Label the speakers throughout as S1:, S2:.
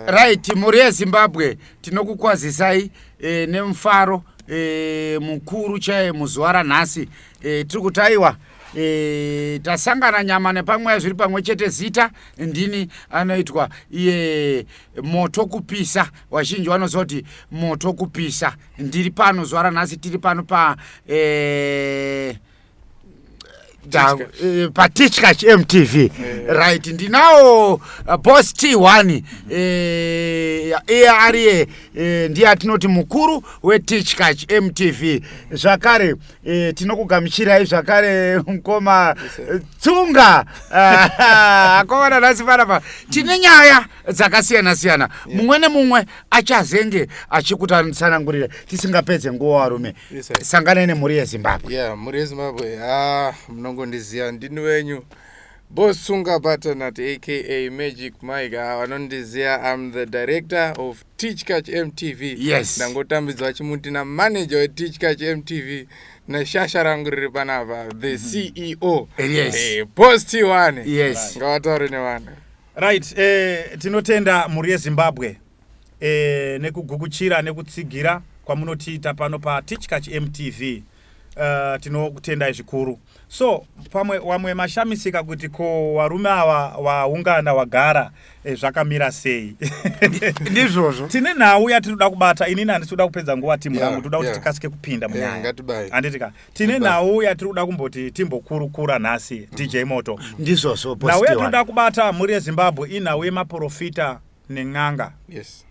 S1: Right, mhuri yeZimbabwe tinokukwazisai e, nemufaro e, mukuru chaye muzuva ranhasi e, tiri kuti aiwa e, tasangana nyama nepamweya zviri pamwe chete zita ndini anoitwa iye moto kupisa vazhinji vanoziva kuti moto kupisa ndiri pano zuva ranhasi tiri pano pa e, Eh, patichka chmtv eh. right ndinawo uh, boss t one eh, iye ariye ndiye atinoti mukuru wetichka chmtv zvakare tinokugamuchirai zvakare mukoma tsunga ah, akomana nhasi panapa tine nyaya dzakasiyana siyana mumwe nemumwe achazenge achikutsanangurira tisingapedze nguva varume yes, sanganai nemhuri yezimbabwe yeah, mhuri yezimbabwe
S2: ha ah, munongondiziva ndini wenyu bosunga batanat aka magic mike ah, vanondiziva ah, am the director of teach catch mtv yes ndangotambidzwa
S1: chimuti
S2: namanager weteach catch mtv neshasha rangu riri panapa the mm -hmm. ceo yes. hey, eh,
S1: post t1
S2: yes ngavataure
S1: nevana
S2: right eh,
S3: tinotenda mhuri yezimbabwe e, nekugukuchira nekutsigira kwamunotiita pano patichkach mtv uh, eh, tinokutendai zvikuru so pamwe wamwe mashamisika kuti ko varume ava waungana wagara e, zvakamira sei ndizvozvo
S1: tine nhau
S3: yatinoda kubata inini handisi kuda kupedza nguva timu yangu yeah, toda kuti yeah. tikasike kupinda munyaya yeah, handitika tine nhau yatiri kuda kumboti timbokurukura nhasi mm -hmm. dj moto ndizvozvo nhau
S1: yatinoda kubata
S3: mhuri yezimbabwe inhau yemaprofita nen'anga yes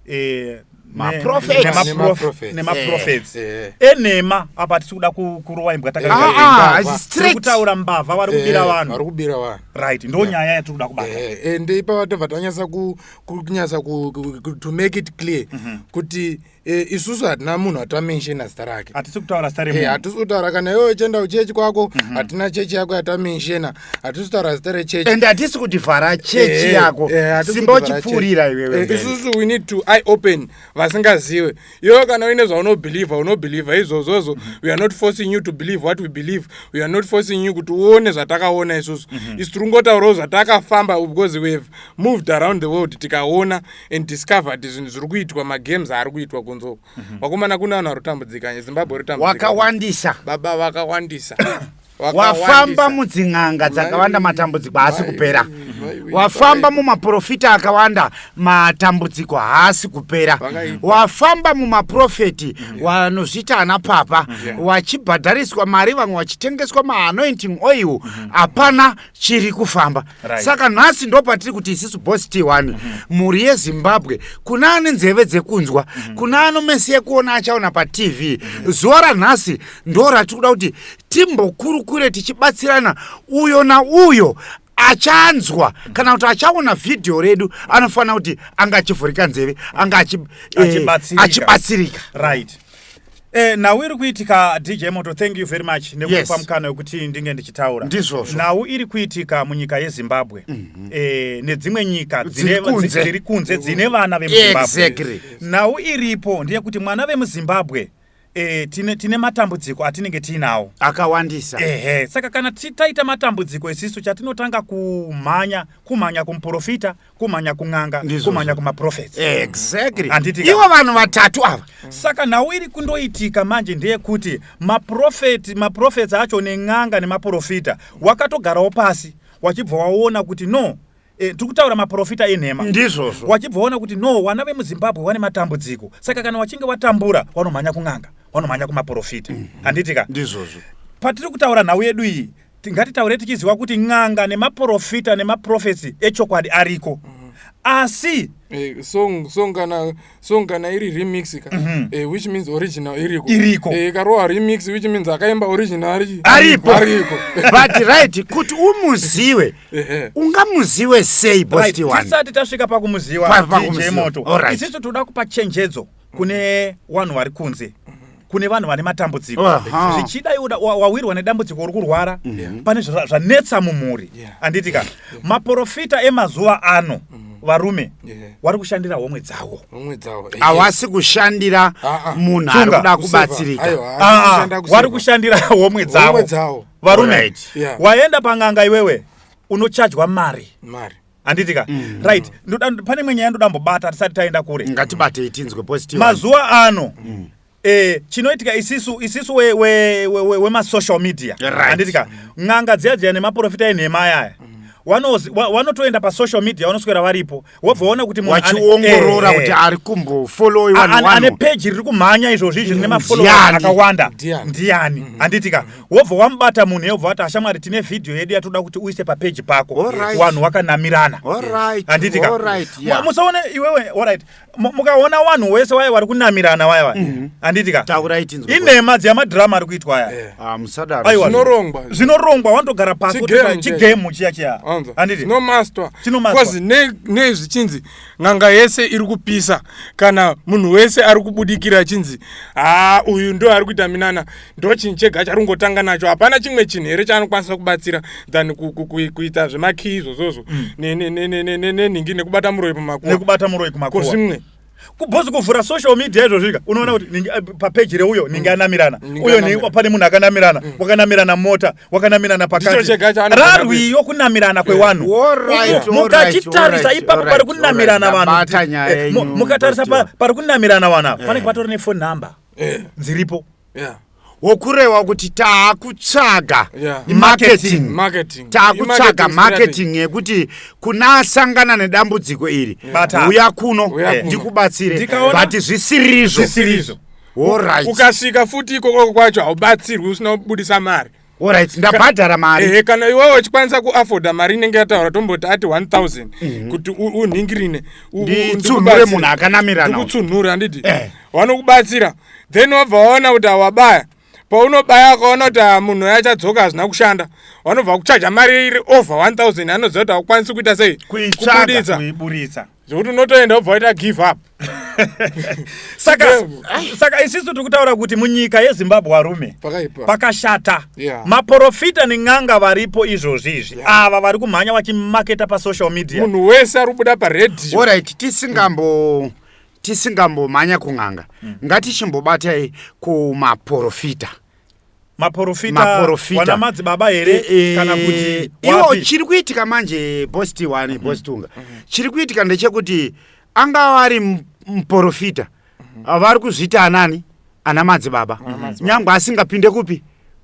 S2: eh, Maprophets. ne-
S3: nemaprof- Nemaprophets. nemaprophets Eh. enhema apa tisi kuda ku- kurowa imbwa Eh, Ah, ah, imbavha. it's tiri straight. kutaura mbavha vari kubira Eh, vari vanhu kubira vanhu right ndo nyaya yatiri kuda kubata Eh, and ipapa tobva
S2: tanyasa ku- ku- kunyasa ku- ku- ku- to make it clear kuti e, isusu hatina munhu atamenshena zita rake hatisi kutaura zita remunhu e,
S3: hatisi kutaura kana iwe
S2: uchienda kuchechi kwako mhm. hatina mm -hmm. chechi yako yatamenshena hatisi kutaura zita rechechi and hatisi kuti vhara
S1: chechi e, yako e, simba uchipfuurira iwewe e, isusu we need to
S2: eye open vasingazive iwewe kana uine zvaunobhilivha unobhilivha izvozvozvo mm -hmm. we are not forcing you to believe what we believe we are not forcing you kuti uone zvatakaona isusu mm -hmm. isu tiri kungotaurawo zvatakafamba because we have moved around the world tikaona and discovered zvinhu zviri kuitwa magames aari kuitwa kunzo mhm. vakomana kune vanhu varotambudzika zimbabwe rotambudzika wakawandisa baba
S1: vakawandisa
S2: wafamba
S1: mudzin'anga dzakawanda matambudziko haasi kupera wafamba mumaprofita akawanda matambudziko haasi kupera wafamba mumaprofeti wanozviita ana papa wachibhadhariswa mari vamwe vachitengeswa maanointing oil hapana chiri kufamba right. saka nhasi ndo patiri kuti isisu bos t one mhm. mhuri mm -hmm. yezimbabwe kuna ane nzeve dzekunzwa mm -hmm. kuna ano mesi yekuona achaona patv mm -hmm. zuva ranhasi ndo ratiri kuda kuti timbokurukure tichibatsirana uyo nauyo achanzwa kana kuti achaona vhidhiyo redu anofanira kuti anga achivhurika nzeve anga eh, achibatsirika right
S3: Eh, nhau iri kuitika dj moto thank you very much nekupa yes. mukana wekuti ndinge ndichitaura ndizvozvo nhau iri
S1: kuitika
S3: munyika yezimbabwe mm -hmm. eh, nedzimwe nyika dziri kunze dzine vana vemuzimbabwe exactly. nhau
S1: iripo
S3: ndeyekuti mwana vemuzimbabwe eh, tine, tine matambudziko atinenge tiinawo akawandisa ehe
S1: saka kana
S3: taita matambudziko isisu chatinotanga kumhanya kumhanya kumuprofita kumhanya kun'anga kumhanya kumaprofets exactly handiti
S1: ivo vanhu vatatu ava saka nhau iri
S3: kundoitika manje ndeyekuti maprofeti maprofets acho nen'anga nemaprofita wakatogarawo pasi wachibva waona kuti no Eh, tiri kutaura maprofita enhema ndizvozvo wachibva waona
S1: kuti no
S3: vana vemuzimbabwe vane matambudziko saka kana wachinge watambura wanomhanya kun'anga wanomhanya kumaprofita mm-hmm. handiti ka ndizvozvo
S1: patiri kutaura
S3: nhau yedu iyi Tingatitaure tichiziva kuti n'anga nemaporofita nemaprofesi echokwadi ariko mhm. asi eh, song song kana
S2: song kana iri remix ka mm -hmm. eh, which means original iriko iriko eh, karowa remix which means akaimba original ari ariko ariko
S1: but right kuti umuziwe ungamuziwe sei bosti right. one tisati tasvika pakumuziwa
S3: pa, pa, DJ moto right. isisu toda kupa chenjedzo kune wanhu wari kunze kune vanhu vane matambudziko zvichida iwe wawirwa nedambudziko uri kurwara mhm. pane zvanetsa mumhuri handiti ka maprofita emazuva ano mm varume wari kushandira homwe dzawo hawasi
S1: kushandira ah, ah. munhu ari kuda kubatsirika ah, wari
S3: kushandira homwe dzawo varume waenda pang'anga iwewe unochajwa mari handiti ka mm. right ndoda pane imwe nyaya ndoda mbobata tisati taenda kure ngatibatei tinzwe
S1: positive mazuva ano mm.
S3: Eh, chinoitika isisu isisu wemasocial we, we, we, we media handiti right. ka n'anga dziya dziya nemaprofita enhema ayaya mm wanotoenda pasocial media vanoswera varipo wobva waona kuti munhuachiongorora eh, kuti
S1: eh. ari kumbofollowiwa ane peji riri kumhanya
S3: izvozvi izvi rine mafollowa akawanda ndiani handitika mm. wobva wamubata munhu yobva wati ashamwari tine vhidhiyo yedu yatoda kuti uise papeji pako wanhu wakanamirana handiti musaone iwewe orit mukaona wanhu wese waye wari kunamirana waya waya mhm. handiti ka inhema dzeyamadhirama ari kuitwa aya eh. ah, zvinorongwa wanotogara pasichigemu chiya chiya handiti
S2: nei zvichinzi n'anga yese iri kupisa kana munhu wese ari kubudikira achinzi haa ah, uyu ndo ari kuita minana ndochinhu chega chari kungotanga nacho hapana chimwe chinhu here chaanokwanisa kubatsira than kuita zvemakii izvozvozvo mm. nenhingi nekubata muroyi pamakuvakubata muroyi kumakuva zvimwe kubhozi kuvhura
S3: social media izvozvika unoona kuti eh, papeji reuyo ninge anamirana uyo pane munhu akanamirana mm. wakanamirana mota wakanamirana pakati rarwiyo kunamirana kwewanhu mukachitarisa ipapo pari kunamirana vanhu eh, mukatarisa pari kunamirana vanhu ava eh. panenge patori nefone number Eh. dziripo Yeah.
S1: wokurewa kuti taakutsvaga Yeah. marketing Marketing. taakutsvaga Marketing marketing yekuti kuna asangana nedambudziko iri Bata. uya kuno Uya kuno. ndikubatsire Ndikaona- but zvisirizvo zvisiri izvo worit
S2: ukasvika futi ikokoko kwacho haubatsirwi usina kubudisa mari Alright, ndabhadhara
S1: mari. Eh, kana iwewe uchikwanisa
S2: kuafforda mari inenge yataura tomboti ati 1000 mhm. kuti unhingirine. Nditsunhure
S1: munhu akanamira nawo. Ndikutsunhure handiti?
S2: Eh. Vanokubatsira. Then wabva waona kuti awabaya. Paunobaya ukaona kuti ah, munhu uya achadzoka hazvina kushanda. Vanobva kuchaja mari iri over 1000 anoziva kuti akwanisi kuita sei? Kuitsvaga kuiburitsa.
S3: zvekuti unotoenda
S2: wobva waita give up saka
S3: saka isisu tiri kutaura kuti munyika yezimbabwe varume pakashata yeah. maporofita nen'anga varipo izvozvi izvi yeah. ava vari kumhanya vachimaketa pasocial media munhu wese ari kubuda
S2: paredio orit tisingambo
S1: mm. tisingambomhanya kun'anga mm. ngatichimbobatai kumaporofita maporofita
S3: Maporofita. wana madzibaba here Eh, eh, kana kuti iwo wapi? chiri kuitika
S1: manje boss tiwani boss tunga chiri kuitika ndechekuti angava ari m- muporofita vari kuzviita anani ana madzibaba nyangwe asingapinde kupi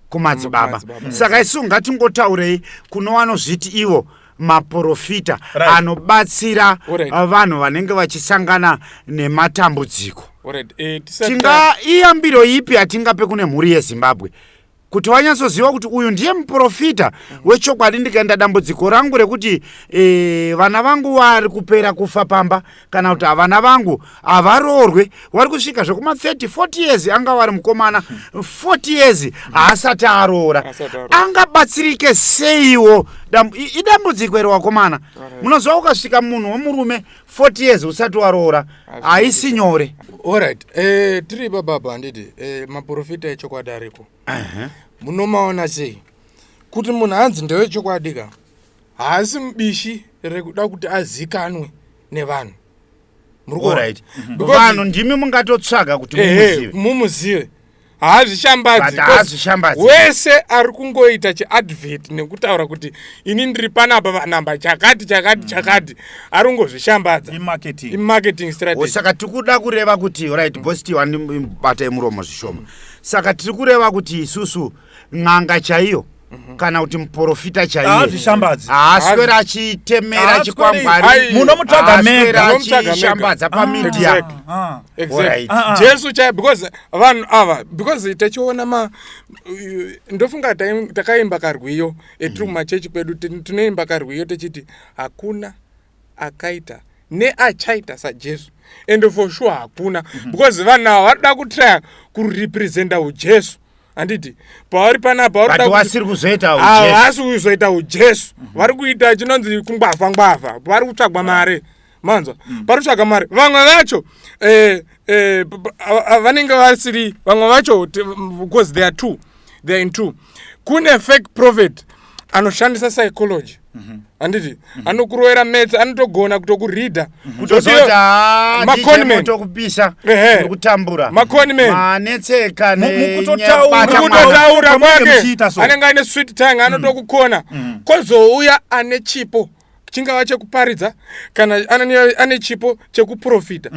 S1: kumadzibaba Kumadzibaba. saka isu ngatingotaurei kuno vanozviti ivo maporofita right. anobatsira right. Uh, vanhu vanenge vachisangana nematambudziko right. eh, tinga iyambiro ipi yatingape kune mhuri yezimbabwe kuti vanyatsoziva kuti uyu ndiye muporofita wechokwadi ndikaenda dambudziko rangu rekuti e, vana vangu vari kupera kufa pamba kana kuti havana vangu havaroorwe wari kusvika zvekuma 30 40 years anga wari mukomana 40 years haasati aroora angabatsirike seiwo idambudziko iri wakomana munoziva ukasvika munhu wemurume 40 years usati waroora haisi nyore orit eh,
S2: tiri bababa handiti eh, maprofita echokwadi ariko munomaona sei kuti munhu hanzi ndewechokwadi ka haasi mubishi rekuda kuti azikanwe nevanhu
S1: vanhu ndimi mungatotsvaga kuti mumuzive
S2: haazvishambadzi wese ari kungoita chiadvert nekutaura kuti ini ndiri panapa vanamba chakati chakati mm. chakati ari kungozvishambadzasaka tiri kuda kureva
S1: kuti rit bositi wandibata yemuromo zvishoma saka tiri kureva kuti isusu n'anga chaiyo Mhm. kana kuti muporofita chaiyehaswera achitemera chikwangwarimunomutsvagameaashambadza pamedia
S2: jesu chai because vanhu ava because tachiona ma ndofunga takaimba karwiyo etrue mhm. machechi kwedu tinoimba karwiyo techiti hakuna akaita neachaita sajesu and for sure hakuna mhm. because vanhu ava varikuda kutraya kurepresenta ujesu handiti pavari panapa varikuasiri
S1: kuzoitaavasi kuzoita
S2: ujesu mhm. vari kuita chinonzi kungwavha ngwavha vari kutsvagwa mari manzwa mhm. pari kutsvaga mari vamwe vacho eh, eh, vanenge vasiri vamwe vacho because they are two they are in two kune fake prophet anoshandisa psychology Mhm. handiti mhm. anokuroera metsa anotogona kutokuridha mhm. kutokutokupisha
S1: kutambura makonmenanetseka
S2: mukutotaura kwake anenge aine swit tang anotokukona kozouya ane chipo chingava chekuparidza kana ane chipo chekuprofita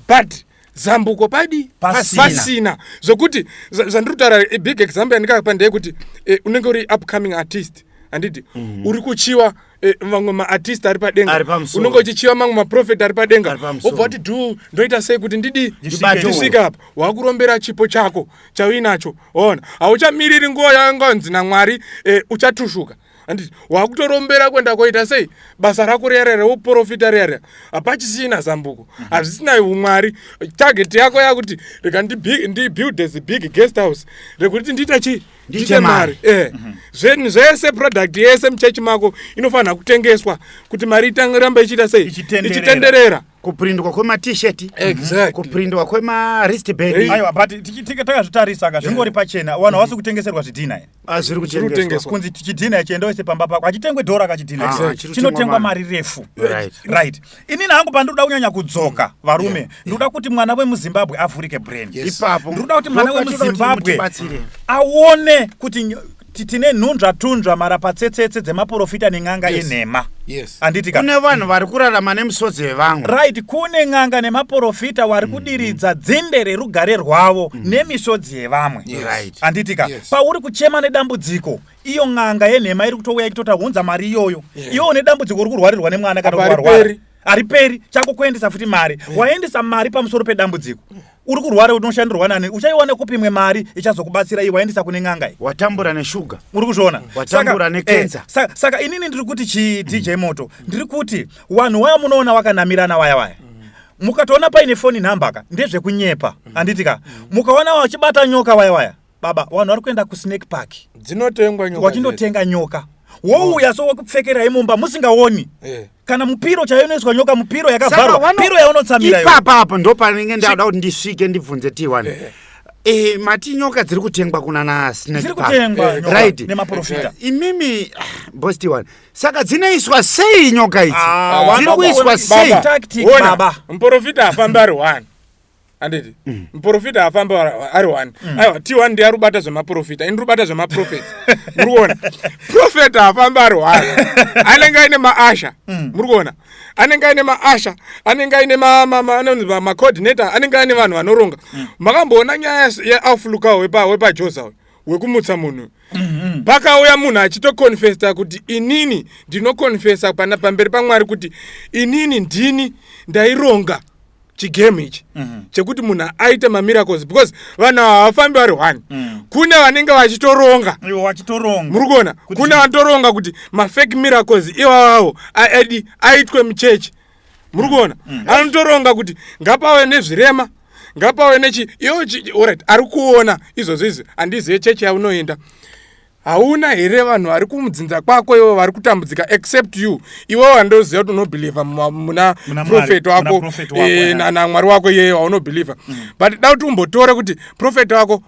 S2: but zambuko padi pasina, pasina. zvokuti zvandiri kutaura big example yandikapa ndeyekuti eh, unenge uri upcoming artist handiti mm -hmm. uri kuchiwa eh, vamwe eh, maartist ari padenga unenge uchichiva mamwe maprofet ari padenga obva kuti du ndoita sei kuti ndidi ndisvike apa wakurombera chipo chako chauinacho ona hauchamiriri nguva yanganzi namwari eh, uchatushuka handiti wakutorombera kuenda koita sei basa rako riya riya reuprofita riya riya hapachisina zambuko mhm. hazvisina umwari target yako yakuti reka ndibuild as big guest house rekuti ndiita chii ndiite mari eh. mhm. zvinhu zvese product yese muchechi mako inofanira kutengeswa kuti mari itange ramba ichiita sei ichitenderera kuprindwa
S1: kwematisheti exactly. kuprindwa kwemaristband aiwa but
S3: takazvitarisa ka zvingori pachena vanhu havasi kutengeserwa zvidhina ah, zviri kutengeswa
S1: kunzi chidhina ichi enda
S3: wese pamba pako hachitengwe dhora ka chidhina ah, chinotengwa mari refu right inini hangu pandinoda kunyanya kudzoka varume ndinoda kuti mwana wemuzimbabwe avhurike brain ipapo ndinoda kuti mwana wemuzimbabwe aone kuti tine nhunzva tunzva marapatsetsetse dzemaporofita nen'anga yes. enhema yes. anditi ka kune vanhu vari
S1: kurarama nemisodzi yevamwe right kune n'anga
S3: nemaporofita wari mm, kudiridza mm. dzinde rerugare rwavo mm. nemisodzi yevamwe yes. right. anditi ka yes. pauri kuchema nedambudziko iyo n'anga yenhema iri kutouya ikitota hunza mari iyoyo yeah. iwo une dambudziko uri kurwarirwa nemwana kana kuarwara hariperi chako kuendesa futi mari yeah. waendesa mari pamusoro pedambudziko yeah. uri kurwara unoshandirwa nani uchaiwana kupi mwe mari ichazokubatsira iyi waendesa kune n'anga iyi watambura neshuga
S1: uri kuzviona
S3: watambura nekenza
S1: eh, saka inini ndiri
S3: kuti chii dj moto ndiri kuti wanhu waya munoona wakanamirana waya waya mukatoona paine foni nhambaka ndezvekunyepa handiti ka mukaona wachibata nyoka waya waya baba vanhu vari kuenda kusnake park dzinotengwa nyoka
S2: wachindotenga nyoka
S3: wouya so wakupfekerai mumba musingaoni eh. kana mupiro chaiyo inoiswa nyoka mupiro yakavharwa piro yaunotsamira ipapa apo ndo panenge
S1: ndada kuti ndisvike ndibvunze tiwani eh. Eh, mati nyoka dziri kutengwa kuna nasnekright
S3: eh,
S1: eh, imimi
S3: ah,
S1: bos tiwani saka dzinoiswa sei nyoka idzi ah, dziri kuiswa sei
S3: muporofita afambi
S2: ari one handiti mm. muprofita haafamba ari one mm. aiwa t one ndiye arubata zvemaprofita ini rubata zvemaprofet muri kuona profet haafamba ari one anenge aine maasha mm. muri kuona anenge aine maasha anenge aine macoordinator anenge aine vanhu vanoronga makamboona nyaya yeaufluka wepajoza uyu wekumutsa munhu mm-hmm. pakauya munhu achitokonfesa kuti inini ndinokonfesa pamberi pamwari kuti inini ndini ndaironga chigame ichi mhm. chekuti munhu aite mamiracles because vanhu ava havafambi vari one mm. kune vanenge vachitoronga muri
S3: kuona kune
S2: vanotoronga kuti mafake miracles iwavawo aidi aitwe muchechi muri mm. kuona mm. anotoronga kuti ngapave nezvirema ngapave nechi iwo orit ari kuona izvozvo izvi handizive chechi yaunoenda hauna here vanhu vari kumudzinza kwako ivo vari kutambudzika except you iwe wandoziva kuti unobhilivha muna profeti wako eh, namwari wako iyeye waunobhilivha mm. but da kuti umbotore kuti profeti wako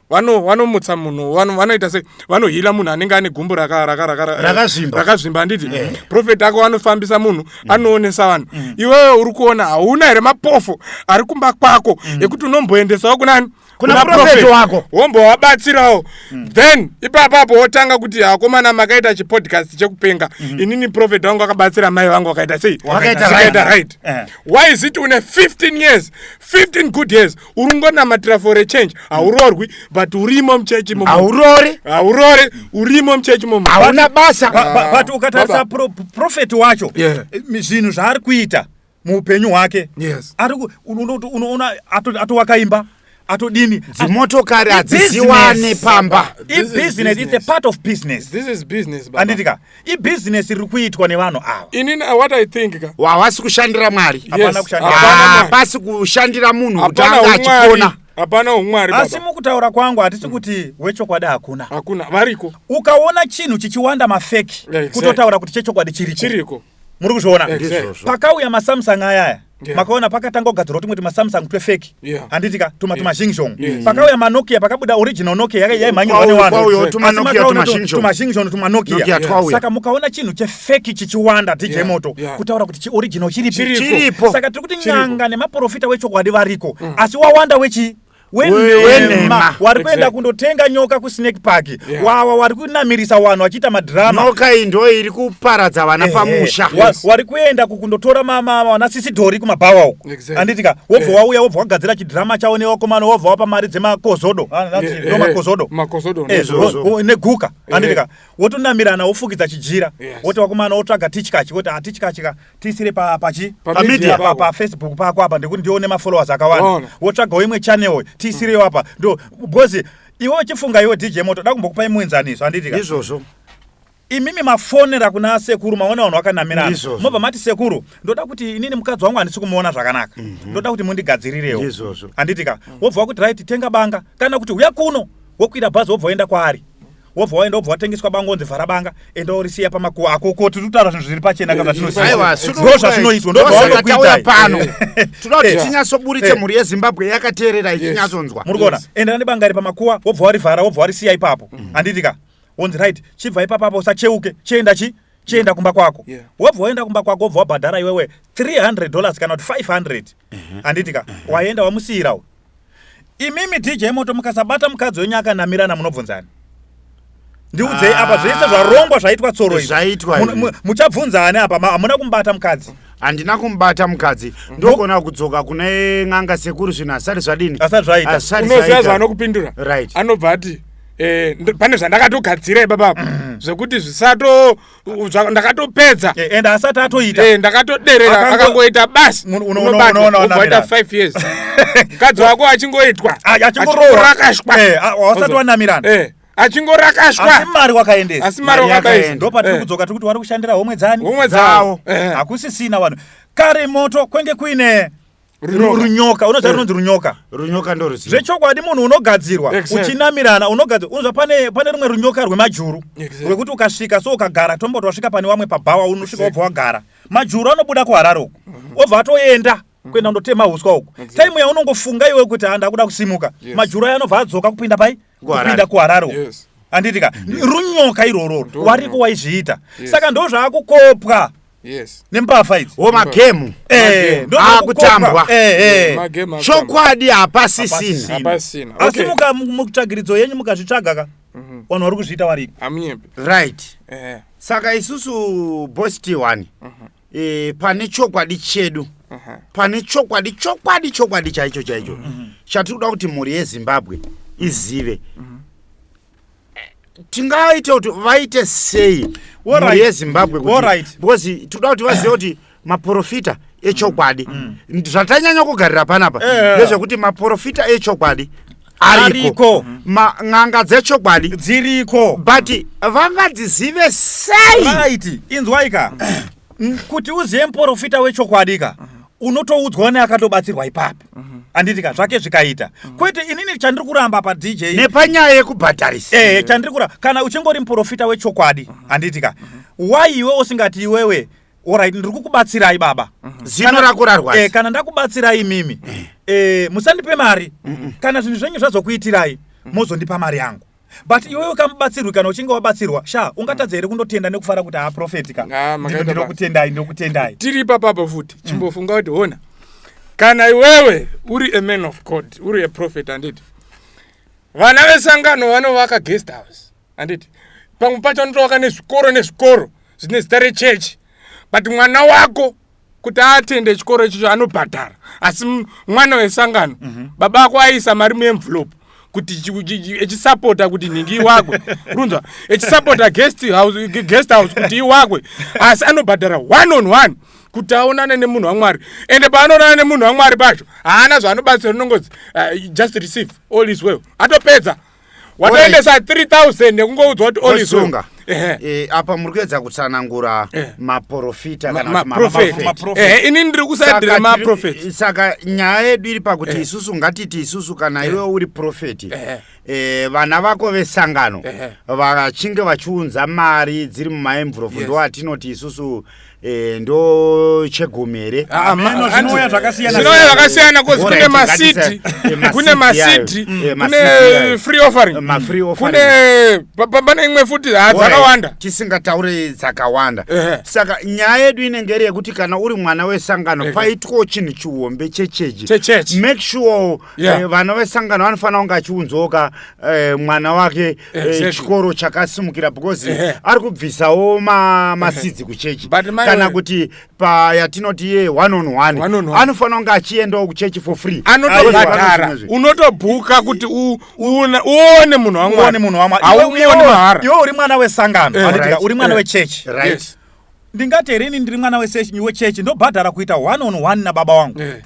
S2: vanomutsa munhu vanoita sei vanohila munhu anenge ane gumbu rakazvimba handiti profeti ako anofambisa munhu mm. anoonesa vanhu mm. iwewe uri kuona hauna here mapofo ari kumba kwako ekuti unomboendesawo kunani kuna profeti
S1: wako wombowabatsirawo
S2: mm. then ipapapo wotanga kuti akomana makaita chipodcast chekupenga mm -hmm. inini profeti wangu akabatsira mai vangu wakaita sei wakaita right uh. why is it une 15 years 15 good years uri ngonamatira for a change hauroorwi mm. but urimo mchechi momo haurori haurori urimo mchechi momo hauna basa but, but,
S1: but ukatarisa
S3: pro, profeti wacho zvinhu yeah. zvaari kuita muupenyu hwake yes. ariku unoona atovaka imba atodini dzimotokari
S1: hadziziwane pamba ibusiness its a
S3: part of business this is business
S2: handiti ka
S3: ibusiness riri kuitwa nevanhu ava inini uh, what i think
S2: ka wawasi kushandira
S1: mwari hapasi kushandira munhu kuti anga achipona
S2: hapana
S1: umwari
S2: asi mukutaura kwangu hatisi
S3: kuti wechokwadi hakuna hakuna variko
S2: ukaona chinhu
S3: chichiwanda mafeki kutotaura kuti chechokwadi chiriko chiriko muri kuzviona pakauya masamsung ayaya Yeah. makaona pakatanga kugadzirwa tumwe tumasamsung twefeki yeah. handiti ka tuma yeah. tumazhingshon yeah. Mm. pakauya manokia pakabuda original nokia yaka yaimhanyirwa newanhutumazhingshon tumanokia saka mukaona chinhu chefeki chichiwanda dj yeah. moto yeah. kutaura kuti chioriginal chiripo saka tiri kuti n'anga nemaprofita wechokwadi variko mm. asi wawanda wechii wenhema wari kuenda kundotenga nyoka kusnake park yeah. wawa wari kunamirisa wanhu wachiita madrama nyoka iyi ndo iri
S1: kuparadza vana eh, pamusha eh, yes. wari kuenda
S3: kukundotora vana sisi dhori kumabhawawo exactly. anditika wobva eh. wauya wobva wagadzira chidrama chavo newakomana wobva wapa mari dzemakozodo ah, ndomakozodo neguka anditika wotonamirana wofukidza chijira woti wakomana wotsvaga tichkachi woti hatichkachika ah, tiisire pa pachi Pa pa media media pa, pako. pa facebook pako apa ndekuti ndione mafollowers akawanda Waona. wotsvagawo imwe channel tiisireyo apa ndo because iwe uchifunga iwe dj moto da kumbokupai muenzaniso handiti ka izvozvo
S1: imimi
S3: mafonera kuna sekuru maona vanhu vakanamirana Ndizvozvo. mobva mati sekuru ndoda kuti inini mukadzi wangu handisi kumuona zvakanaka ndoda kuti mundigadzirirewo Ndizvozvo. handiti ka wobva wakuti right tenga banga kana kuti huya kuno wokwira bhazi wobva woenda kwaari wobva waenda wobva watengeswa bango onzi vhara banga enda orisiya pamakuwa ako ko tiri kutaura zvinhu zviri pachena kazvatinozindo zvazvinoizwa ndovaonokuitai
S1: pano tinoda kuti tinyatsoburitse mhuri yezimbabwe yakateerera ichinyatsonzwa muri kuona endera nebanga
S3: iri pamakuwa wobva warivhara wobva warisiya ipapo mm. handiti ka onzi right chibva ipapapo usacheuke chienda chi chienda kumba kwako wobva waenda kumba kwako wobva wabhadhara iwewe 300 dollars kana kuti 500 handiti ka waenda wamusiyirawo imimi dj moto mukasabata mukadzi wenyu akanamirana munobvunzani ndiudzei apa ah. zvese zvarongwa zvaitwa tsoro zvaitwa muchabvunza ani apa hamuna kumubata mukadzi handina kumubata
S1: mukadzi ndogona kudzoka kune n'anga sekuru zvinhu asati zvadini asati zvaitaunoziva
S3: zvaanokupindura
S2: right anobva ati eh, pane zvandakatogadzira ibaba mm. zvekuti zvisato ndakatopedza eh, and asati
S3: atoita eh, ndakatoderera
S2: akangoita basi unobaoita five years mukadzi wako achingoitwa ah, achingorashwa
S3: eh, ah, wasati wanamirana achingorakashwa
S2: mari wakaendesa
S3: asi mari wakaendesa
S2: ndopatiri kudzoka tiri kuti wari
S3: kushandira homwe dzani homwe dzawo hakusisina vanhu kare moto kwenge kuine runyoka unoziva eh. runonzi runyoka runyoka ndoruziva
S1: zvechokwadi munhu unogadzirwa
S3: uchinamirana unogadzirwa unonzva pane pane rumwe runyoka rwemajuru rwekuti ukasvika so ukagara tomboti wasvika pane wamwe pabhawa unosvika wobva wagara majuru anobuda kuharare uku mhm. obva atoenda mhm. kuenda kundotema uswa uku taimu yaunongofunga iwe kuti handakuda kusimuka majuru ayo anobva adzoka kupinda pai kupinda kuharare yes. handiti ka yes. runyoka irwororo wariko waizviita yes. saka ndo zvaakukopwa yes. nembavha idzi wo magemu
S1: eh, akutambwa eh, eh. chokwadi hapasisina asi okay.
S3: mukamutsvagiridzo yenyu mukazvitsvaga ka mhm. vanhu vari kuzviita variko right
S1: eh. saka isusu bosti one mhm. e, pane chokwadi chedu uh -huh. pane chokwadi chokwadi chokwadi chaicho chaicho mm -hmm. chatiri kuda kuti mhuri yezimbabwe izive mm -hmm tingaite kuti vaite sei mhuri yezimbabwe because tikuda kuti vazive kuti maprofita echokwadi mm. zvatanyanya kugarira panapa eh, eh. ndezvekuti maprofita echokwadi ariko n'anga dzechokwadi dziriko but vangadzizive sei right inzwaika
S3: kuti uzive muporofita wechokwadi ka unotoudzwa neakatobatsirwa ipapi handiti ka zvake zvikaita kwete inini chandiri kuramba padj nepanyaya
S1: yekubhadharisa ee chandiri kuramba kana
S3: uchingori muporofita wechokwadi handiti ka why iwe usingati iwewe orit ndiri kukubatsirai baba mhm. zino rako rarwadza
S1: eh, kana ndakubatsirai
S3: mimi eh. eh, musandipe mari kana zvinhu zvenyu zvazokuitirai mhm. mozondipa mari yangu but iwewe ukamubatsirwi kana uchinge wabatsirwa sha ungatadza here kundotenda nekufara kuti haaprofeti ka ah, ndinokutendai ndinokutendai tiri ipapapo
S2: futi mm. chimbofunga kuti hona kana iwewe uri a man of god uri a prophet anditi vana vesangano vanovaka guest house handiti pamwe pacho anotovaka nezvikoro nezvikoro zvine zita rechechi but mwana wako kuti atende chikoro ichicho anobhadhara asi mwana wesangano mm -hmm. baba vako aisa mari muemvlope kuti echisapota kuti nhingi iwakwe runzwa echisapota guest house, guest house kuti iwakwe asi anobhadhara one on one kuti aonane nemunhu wamwari ende paanoonana nemunhu wamwari pacho haana zvaanobatsira unongozi uh, just receive all is well atopedza watoendesa 3000 nekungoudzwa kuti olisunga eh, eh, apa muri
S1: kuedza kutsanangura eh. maprofita kanaehe ini
S2: ndiri kusaidira maprofeti saka nyaya
S1: yedu iri pakuti isusu ngatiti isusu kana iwe uri profeti e, vana vako vesangano vachinge vachiunza mari dziri mumaemvurofu yes. ndoatinoti isusu Eh, ndo chegumi here ah, ah, meno zvinouya
S3: zvakasiyanazvinouya zvakasiyana
S2: coz kune masiti kune masiti kune free offering kune pane imwe futi ah, dzakawanda tisingataure
S1: dzakawanda saka nyaya yedu inenge iri yekuti kana uri mwana wesangano paitwawo chinhu chihombe chechechi make sure eh, vana vesangano vanofanira kunge achiunzwoka eh, mwana wake eh, Exactly. chikoro chakasimukira because Ehe. ari kubvisawo ma- masidzi kuchechi But mai kana we- kuti payatinoti ye one on one One on one. anofanira kunge achiendawo kuchechi for free anotobhadhara Aizwa-
S2: unotobhuka kuti u- uone uone munhu uone munhu wamwari wamwari Iwe- iwe- hauoni mahara iwe uri
S3: mwana wesangano Eh, Vanoti right. ka, uri mwana Eh. wechechi Right. Yes. ndingati here ini ndiri mwana wesession wechurch ndobhadhara kuita one on one nababa wangu Eh.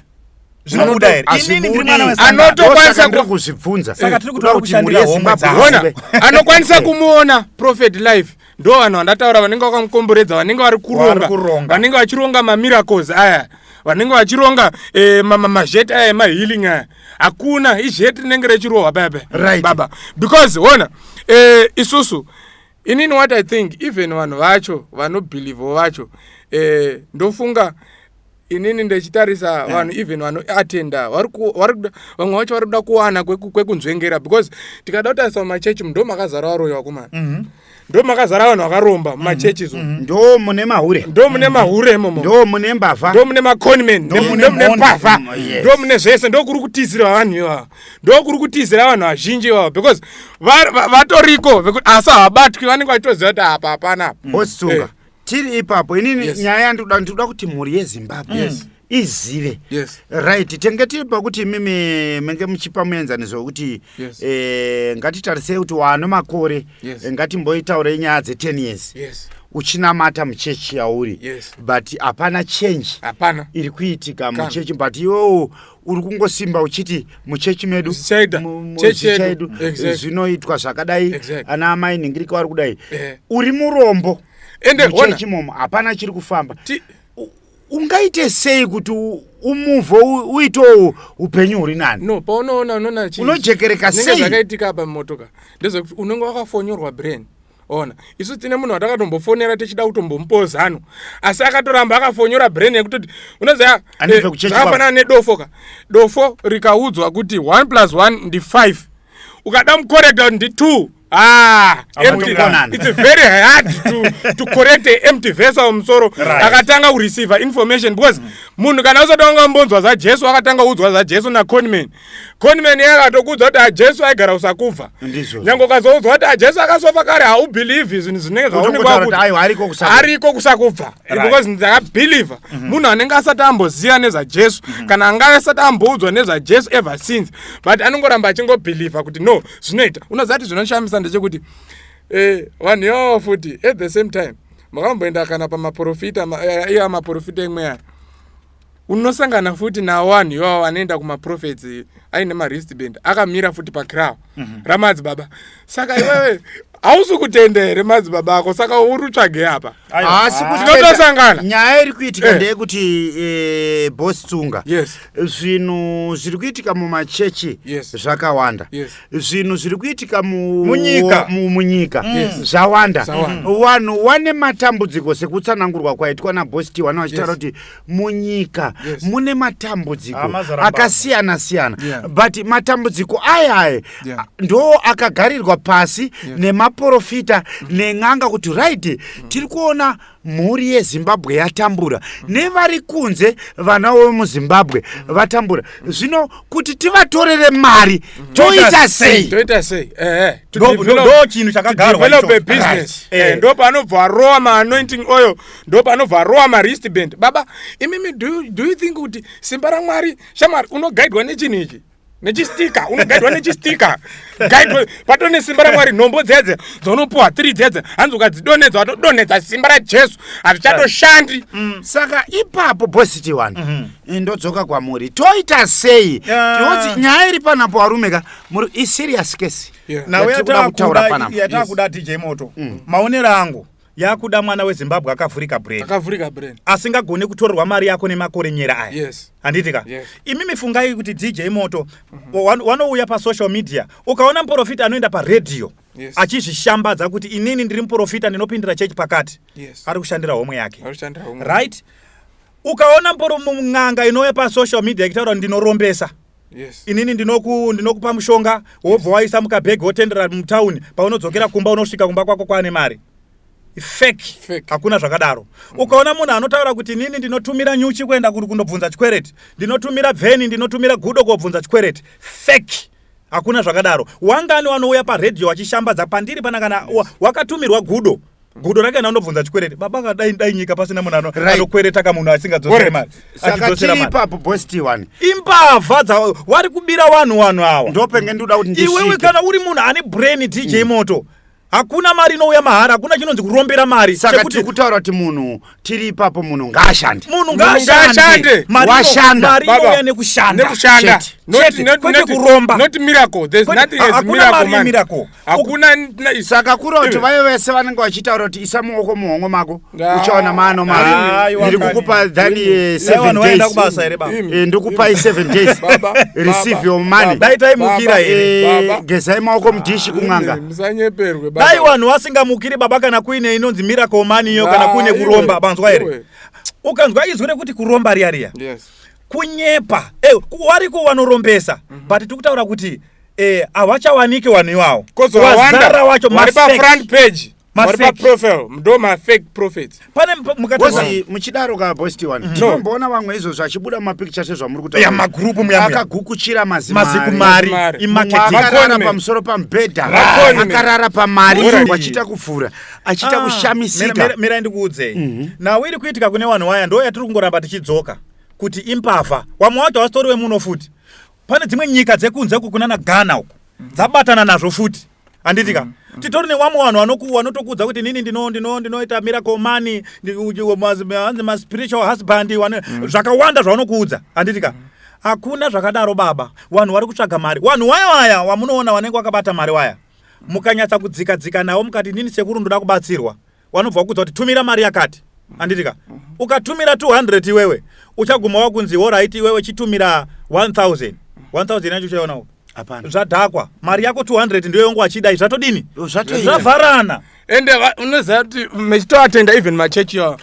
S3: zvinobuda here inini ndiri mwana Hazvibudi. wesangano Anotokwanisa Saka ndiri ku-
S2: kuzvibvunza Saka
S1: tiri kutoda Kuda kuti mhuri
S3: kushandira homwe yezimbabwe dzawo. Ona, izive.
S2: anokwanisa kumuona prophet life ndo vanhu vandataura vanenge vakamukomboredza vanenge vari Vari kuronga kuronga. vanenge vachironga mamiracles aya vanenge vachironga eh, ma- ma- mazheti aya emahealing aya hakuna izheti rinenge rechirohwa paya paya Right. baba because ona eh, isusu inini what i think even vanhu vacho vanobhilivho vacho eh, ndofunga inini ndechitarisa yeah. vanhu even vanoatenda vamwe vacho vari kuda kuwana kwekunzvengera because tikada kutarisa mumachechi ndo makazara varoyi vakomana mm -hmm ndo makazara vanhu vakaromba mhm. mumachurches umu mhm. ndo mune mahure
S1: ndo mune mahure imomo ndo
S2: mune mbavha
S1: ndo mune maconman
S2: ndo mune mbavha mm, ndo mune zvese ndo kuri kutizirwa vanhu ivava ndokuri kutizira vanhu vazhinji ivavo because vatoriko vekuti asi havabatwi vanenge vachitoziva kuti apa hapana osunga eh.
S1: tiri ipapo inini yes. nyaya yandikuda ndikuda kuti mhuri yezimbabwe yes. mm izive yes. right tenge tiri pakuti imimi menge muchipa muenzaniso wekuti yes. eh, ngatitarisei kuti wano makore yes. Eh, ngatimboitaurei nyaya dze10 years yes uchinamata muchechi yauri yes. but hapana change hapana iri kuitika muchechi but iwewo uri kungosimba uchiti muchechi medu chedu zvinoitwa zvakadai ana amai nhingirika vari kudai eh. uri murombo muchechi momo hapana chiri kufamba ungaite sei kuti umuvho uitewo upenyu huri nani no paunoona unoona
S2: unojekereka sei
S1: zvakaitika apa mumotoka
S2: ndezvekuti unenge wakafonyorwa brain ona isu tine munhu watakatombofonera tichida kutombomupawo zano asi akatoramba akafonyora brain yekutoti unoziva zvakafanana eh, nedofo ka dofo rikaudzwa kuti one plus one ndi five ukada mukorekta ndi two Ah, it's very hard to, to correct a empty vessel musoro akatanga kureceiver information because mm. munhu kana usati wanga mbonzwa zvajesu akatanga kuudzwa zvajesu naconman conman iye akatokudza kuti ajesu ah, aigara kusakufa nyange ukazoudzwa kuti ajesu ah, akasofa kare haubhilivhi zvinhu zvinenge zvaunengeariko kusakubva because ndakabhilivha mhm. munhu anenge asati amboziva nezvajesu mhm. kana angave asati amboudzwa nezvajesu ever since but anongoramba achingobhilivha kuti no zvinoita unoziva kuti zvinoshamisa ndechekuti eh, vanhu ivavo futi at the same time makamboenda kana pamaprofita eh, iye amaprofita imwe aya unosangana futi nawo vanhu ivavo vanoenda kumaprofets aine maristband akamira futi pacrow mm -hmm. ramadzibaba saka iwewe hausi kutenda here madzibaba ako saka uri tsvage apa haasi kuti
S1: tinotosangana
S2: nyaya iri kuitika
S1: eh. ndeyekuti eh, bos tsunga yes. zvinhu zviri kuitika mumachechi yes. zvakawanda yes. zvinhu zviri kuitika munyika mu, mu, mm. yes. zvawanda vanhu mm. wane matambudziko sekutsanangurwa kwaitwa nabos tiwana vachitaura kuti yes. munyika yes. mune matambudziko ah, akasiyana siyana yeah. but matambudziko ayaye yeah. ndo akagarirwa pasi yeah. nemaprofita mm. nen'anga kuti right mm. tiri kuona mhuri yezimbabwe yatambura mm. nevari kunze vana vemuzimbabwe mm. vatambura mm. zvino kuti tivatorere mari mm. toita sei toita sei eh, eh.
S3: ndo chinhu chakagarwa eh, eh.
S2: ndo panobva arowa maanointing oyo ndopanobva arowa marist band baba imimi do, do you think kuti simba ramwari shamwari unogaidwa nechinhu ichi nechistika unogaidwa nechistika gaidwa pato nesimba ramwari nhombo dzedze dzaunopuwa tiri dzedze hanzi ukadzidonedza watodonedza simba rajesu hazvichatoshandi mm. saka
S1: ipapo bositi wani mhm. eh, ndodzoka kwamuri toita sei tioti nyaya iri panapo varume ka muri iserious kesi
S3: nauyataakuda tije moto mm. maonero angu yakuda mwana wezimbabwe akavhurika brain akavhurika brain asingagone kutorerwa mari yako nemakore nyera aya yes handiti ka yes. imi mifungai kuti dj moto mm -hmm. wanouya pasocial media ukaona muprofita anoenda paredhiyo yes. achizvishambadza kuti inini ndiri muprofita ndinopindira chechi pakati yes. ari kushandira homwe yake right ukaona muporo mun'anga inouya pasocial media ichitaura kuti ndinorombesa Yes. inini ndinoku ndinokupa mushonga wobva waisa mukabhegi wotendera mutown paunodzokera kumba unosvika kumba kwako kwaane mari fake Fake. hakuna zvakadaro ukaona munhu anotaura kuti inini ndinotumira nyuchi kuenda kuri kundobvunza chikwereti ndinotumira bveni ndinotumira gudo kobvunza chikwereti fake hakuna zvakadaro wangani wanouya paredhiyo wachishambadza pandiri pana kana wa- wakatumirwa gudo gudo rake kana unobvunza chikwereti baba kadai dai nyika pasina munhu ano- Right. anokwereta ka munhu asingadzosere mari saka achidzosera chii mari ipapo
S1: boss tiwani imbavha dza
S3: wari kubira vanhu vanhu awa ndopenge ndikuda kuti
S1: iwewe ndisvike kana uri munhu ane
S3: brain dj moto hakuna mari inouya mahara hakuna chinonzi kurombera mari saka Chekuti tiri kutaura kuti
S1: munhu tiri ipapo munhu ngaashande munhu ngaashande
S3: ngaashande. Mari ino- Washanda. mari
S1: Baba, inouya nekushanda
S3: nekushanda Chete. Not- Chete. not-
S2: Kwete not- kuromba not
S3: miracle there's Kwete-
S2: nothing ha- as hakuna miracle mari man yemiracle hakuna
S1: saka kura kuti vaye vese vanenge vachitaura kuti isa muoko muhongo mako uchaona mano mairi kukupa than eh, seven days eh, ndikupai seven days receive your money dai taimukira eh,
S3: here gezai maoko mudhishi
S1: kun'anga dai
S2: vanhu
S3: vasingamukiri baba kana kuine inonzi miracle money iyo kana kuine kuromba banzwa here ukanzwa izwi rekuti kuromba riya riya kunyepa wari kuwanorombesa mhm. but tikutaura kuti eh havachawanike vanhu iwawo kozowazara wacho
S2: vari pa front page vari pa profile ndo ma fake prophets pane mukati
S3: muchidaro ka boys t
S1: one tinomboona mhm. vamwe izvo zvachibuda ma picture se zvamuri kutaura ya magroup muyamwe
S3: akagukuchira maziku
S1: mari
S3: i marketing
S1: akarara pamusoro pa mbeda akarara pa mari vachita kuvhura achita ah, kushamisika mira ndikuudze mhm.
S3: now iri kuitika kune vanhu waya ndo yatiri kungoramba tichidzoka kuti impavha wamwe wacho wasitori wemuno futi pane dzimwe nyika dzekunze uku kunana ghana uku mhm. dzabatana nazvo futi handiti ka mm, mm. titori newamwe vanhu vanoku vanotokuudza kuti nini ndino ndino ndinoita miracle money hanzi maspiritual husband mm. zvakawanda zvavanokuudza handiti ka hakuna zvakadaro baba vanhu vari kutsvaga mari vanhu waya waya wamunoona vanenge vakabata mari waya mukanyatsa kudzika dzika navo mukati nini sekuru ndoda kubatsirwa wanobva wakudza kuti tumira mari yakati anditika ukatumira 200 iwewe uchaguma wakunzi horaiti iwewe chitumira 1000 1000 yacho uchaiona zvadhakwa
S1: mari yako
S3: 200 ndiyo yongo achidai zvatodini zvavharana
S2: ende unoziva kuti mechitoatenda even machechi yawo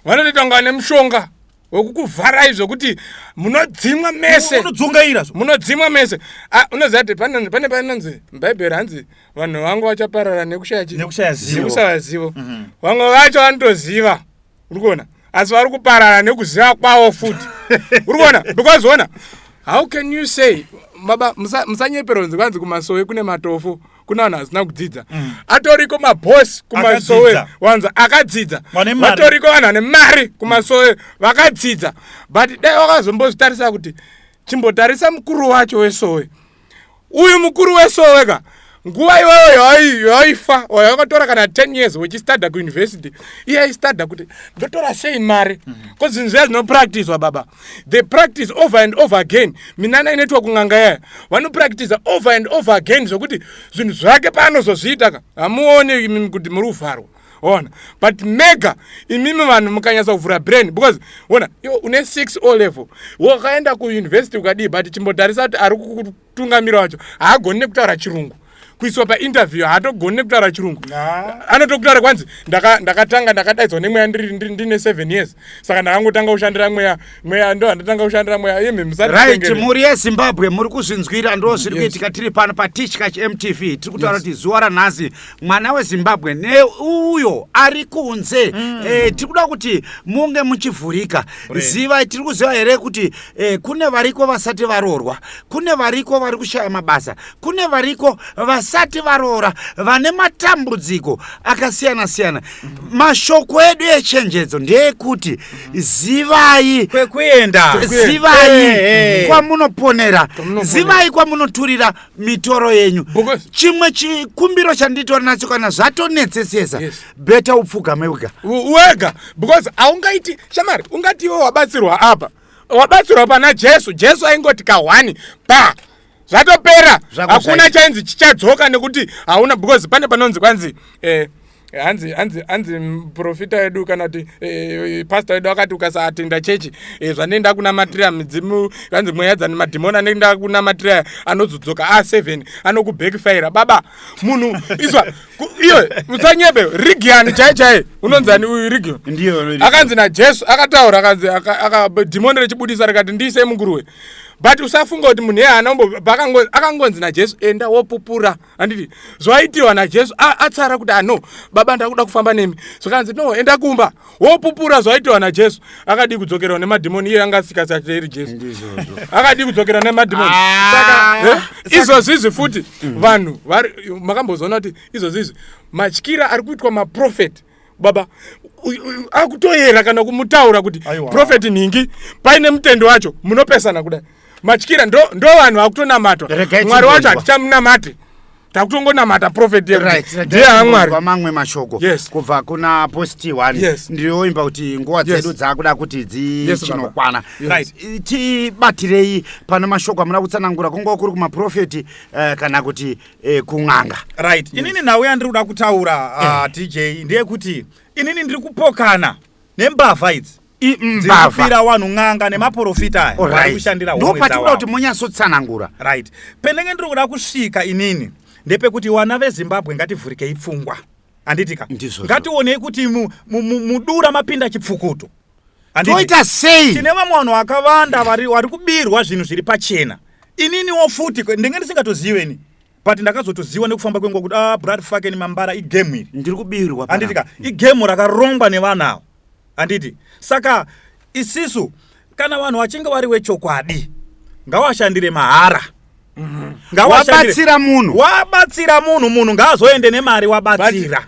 S2: vanotoita kunga vane mushonga wekukuvharai zvokuti munodzimwa mese unodzungaira zvo munodzimwa
S3: mese
S2: Ah, unoziva kuti pane pane panonzi mubhaibheri hanzi vanhu vangu vachaparara nekushaya chi Nekushaya zivo. nekusava zivo Mhm. vamwe vacho vanotoziva uri kuona asi vari kuparara nekuziva kwavo futi uri kuona because ona how can you say baba musa- musanyeperwa nzi kwanzi kumasowe kune matofo kuna vanhu vasina kudzidza mm. atoriko mabos kumasowe wanza akadzidza vatoriko vanhu vane mari kumasowe vakadzidza but dai wakazombozvitarisa kuti chimbotarisa mukuru wacho wesowe uyu mukuru wesowe ka nguva iyoyo yaifa oyo yakatora kana 10 years wechistadha kuuniversity iye aistadha kuti ndotora sei mari bcause mhm. zvinhu zviya zvinopractiswa baba they practice over and over again minana inoitwa kun'anga yaya vanopractiza over and over again zvokuti zvinhu zvake paanozozviita ka hamuone imimi kuti muri kuvharwa ona but mega imimi vanhu mukanyatsa kuvhura brain because ona une six o level wakaenda kuuniversity ukadii but chimbotarisa kuti ari mutungamiri wacho haagoni nekutaura chirungu kuiswa painterview haatogoni nekutaura chirungu anotokutaura kwanzi ndakatanga ndakadaidzwa nemweya ndine seven years saka ndakangotanga kushandira mweya mweya ndo handatanga kushandira mweya yemhemsariht mhuri
S1: yezimbabwe muri kuzvinzwira ndo zviri kuitika tiri pano patishkach mtv tiri kutaura kuti zuva ranhasi mwana wezimbabwe neuyo ari kunze mm. e, tiri kuda kuti munge muchivhurika zivai tiri kuziva here kuti e, kune variko vasati varoorwa kune variko vari kushaya mabasa kune variko vasati varoora vane matambudziko akasiyana siyana mm. mashoko edu echenjedzo ndeekuti mm. zivai kwekuenda zivai kwamunoponera zivai kwamunoturira mitoro yenyu chimwe chikumbiro chanditori nacho kana zvatonetsesesa yes. beta upfugame wega wega because haungaiti
S2: shamari ungati iwe wabatsirwa apa wabatsirwa pana jesu jesu aingoti kahwani pa zvatopera hakuna chainzi chichadzoka nekuti hauna because pane panonzi kwanzi eh, Eh, hanzi hanzi hanzi muprofita wedu kana kuti eh, pasta wedu akati ukasatenda chechi eh, zvanei ndakunamatira midzimu hanzi mweya dzani madhimoni anei ndakunamatira anozodzoka a ah, seven anokubackfira baba munhu iswa iyo musanyebe rigiani chai chai unonzani uyu rigio akanzi najesu akataura akanzi dhimoni rechibudisa rikati ndiise munguruwe but usafunga kuti munhu yeye anaombo akangonzi najesu enda wopupura handiti zvaitiwa najesu atsara kuti ano ah, baba ndakuda kufamba nemi zvakanzi no enda kumba wopupura zvaitiwa najesu akadii kudzokerwa nemadhimoni iye anga asikasateeri jesu akadii kudzokerwa nemadhimoni ah. saka eh, izvozvizvi futi mm. vanhu makambozoona kuti izvozvizvi matyira ari kuitwa maprofeti baba akutoyera kana kumutaura kuti profeti nhingi paine mutendo wacho munopesana kudai matyira ndo vanhu ndo vakutonamatwa mwari wacho hatichamunamati takutongonamata profeti yediye hamwari mamwe mashoko yes.
S1: kubva kuna posti one yes. ndinoimba kuti nguva dzedu yes. dzakuda kuti dzichinokwana yes, right. tibatirei pane mashoko amuna kutsanangura kunguva kuri kumaprofeti uh, kana kuti eh, kun'anga right mm. inini
S3: nhau yandiri kuda kutaura uh, eh. dj ndeyekuti inini ndiri kupokana nembavha idzi mbavhaira wanhu n'anga nemaporofita aya waikushandira ndopatikuda kuti monyatsotsanangura
S1: right pendenge
S3: ndiri kuda kusvika inini ndepekuti wana vezimbabwe ngativhurikei pfungwa handiti ka Ndizvozvo. ngationei kuti mu- mu- mu- mudura mapinda chipfukuto Handiti? toita
S1: sei tine vamwe vanhu vakavanda
S3: vari vari kubirwa zvinhu zviri pachena ininiwo futi kwe- ndenge ndisingatozive ini but ndakazotoziva nekufamba kwenguva kuti ah blood fucking mambara igemu iri ndiri kubirwa panapa. handitika
S1: igemu
S3: rakarongwa nevanhu ava handiti saka isisu kana vanhu vachinge vari wechokwadi ngawashandire mahara mhm.
S1: ngawabatsira munhu wabatsira
S3: munhu munhu ngaazoende nemari wabatsira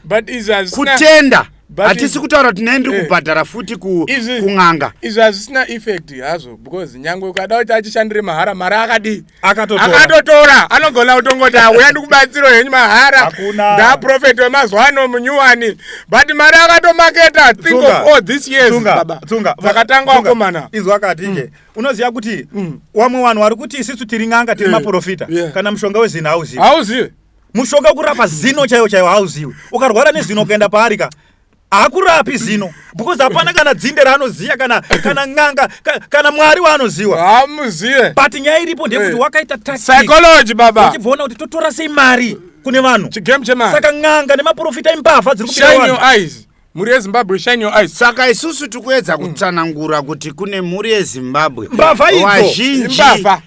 S3: kutenda
S1: hatisi kutaura kuti nei ndiri eh. kubhadhara futi kun'anga izvi hazvisina
S2: effect hazvo because nyange ukada kuti achishandire mahara mari akadii akatotora anogona kutongoti auya ndikubatsiro henyu mahara ndaprofeti wemazuva ano munyuwani but mari akatomaketa think of all this years baba dzakatanga wakomana izvo akati mm.
S3: unoziva kuti mm. wamwe vanhu vari kuti isisu tiri n'anga tiri maprofita kana mushonga wezina hauzivi hauzivi mushonga kurapa zino chaiwo chaiwo hauziwi ukarwara nezino ukaenda paari ka haakurapi zino because hapana kana dzinde raanoziva kana kana n'anga kana mwari waanoziva haamuzive but
S2: nyaya iripo
S3: ndeyekuti eh. wakaita psychology baba
S2: uchibvaona kuti totora sei
S3: mari kune vanhu chigame chemari saka
S2: n'anga nemaprofita
S3: imbavha dziri kubira eyes
S2: mhuri yezimbabwe shine your eyes saka isusu tikuedza
S1: kutsanangura kuti kune mhuri yezimbabwe mbavha idzo vazhinji
S3: mbavha